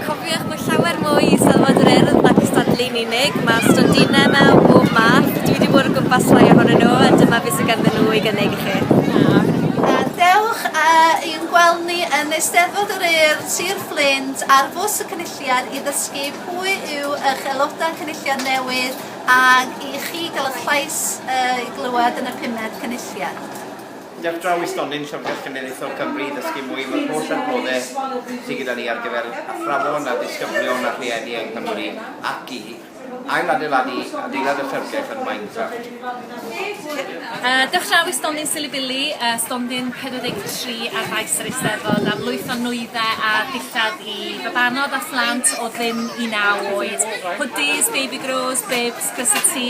Cofiwch bod llawer mwy i Eisteddfod yr Urdd na cystadlu yn unig. Mae stondinau yma o bob math. Dwi wedi bod o gwmpas rai ohonyn nhw a dyma beth sydd ganddyn nhw i gynnig i chi. Dewch i'n gweld ni yn Eisteddfod yr Urdd, Sir Fflint ar Fws y Cynulliad i ddysgu pwy yw eich aelodau Cynulliad newydd ac i chi gael eich llais i glywed yn y pumed Cynulliad. Ar draw i stondin Llyfrgell Genedlaethol Cymru i ddysgu mwy am yr holl adnodde sy gyda ni ar gyfer athrawon a disgyblion a rhieni yng Nghymru ac i ailadeiladu adeilad y Llyfrgell yn Minecraft. Ar draw i stondin Silibili, stondin 43 ar faes yr Eisteddfod am lwyth o nwyddau a dillad i fabanod a phlant o ddim i naw oed, hwdis, baby grows, bibs, crysau tŷ,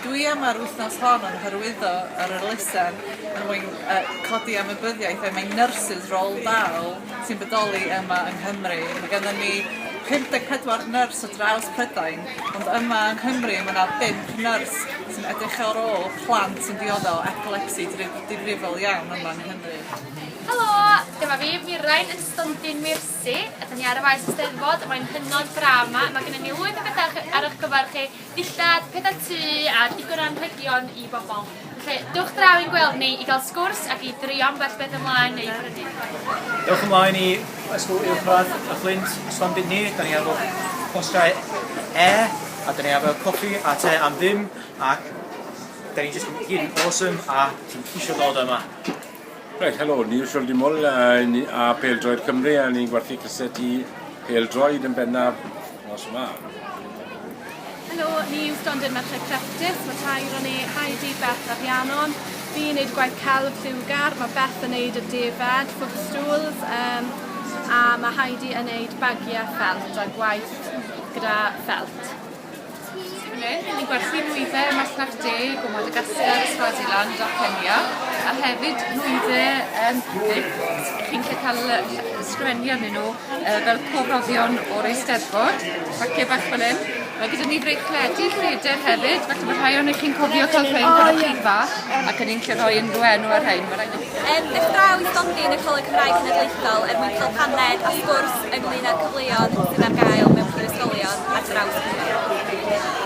Dwi am ar wythnos hon yn hyrwyddo yr elusen er mwyn codi ymwybyddiaeth er mwyn nyrsys rôl da sy'n bodoli yma yng Nghymru. Mae gennym ni 54 nyrs ar draws Prydain ond yma yng Nghymru mae 'na bump nyrs sy'n edrych ar ôl plant sy'n diodde' o epilepsi difrifol iawn yma yng Nghymru. Helo! Dyma fi, Mirain, yn stondin Meirsi. Ydyn ni ar y Maes Eisteddfod mae'n hynod braf 'ma. Mae gennym ni lwyth o betha ar eich cyfer chi. dillad, pedair tŷ a digon o anrhegion i bobl. Felly, dewch draw i'n gweld ni i gael sgwrs ac i drio ambell beth ymlaen neu brynu. Dewch ymlaen i Ysgol Uwchradd y Fflint, Llandudni, da ni efo postau e, a da ni efo copi a te am ddim, ac da ni jyst yn gyd yn awesome a ti'n ceisio dod yma. Reit, helo, ni yw Siol Dimol a, a Peldroed Cymru a ni'n gwerthu cysset i Peldroed yn bennaf nos yma. Helo, ni yw Stondin Merched Crefftus, mae tair o'n ei Heidi, Beth a Rhiannon. Fi'n gwneud gwaith celf lliwgar, mae Beth yn gwneud y defaid, footstools, um, a mae Heidi yn gwneud bagiau ffelt a gwaith gyda ffelt. Fan hyn, ni'n gwerthu nwydde ym Masnach Deg o Madagascar a Swaziland a Kenya, a hefyd nwydde yym pupur. Chi'n gallu cael yy ll- ysgrifennu arnyn nhw yy fel pob rhoddion o'r Eisteddfod, paciau bach fel hyn. Mae gyda ni freichledi lleder hefyd, falle bod rhai ohonoch chi'n cofio cael rhein pan o'ch chi'n fach, ac o'n i'n gallu rhoi unrhyw enw ar rhein, ma' raid i chi... Yn dechrau i ddodi yn y Coleg Cymraeg Cenedlaethol er mwyn cael paned a sgwrs ynglŷn â'r cyfleoedd sydd ar gael mewn prifysgolion ar draws Cymru.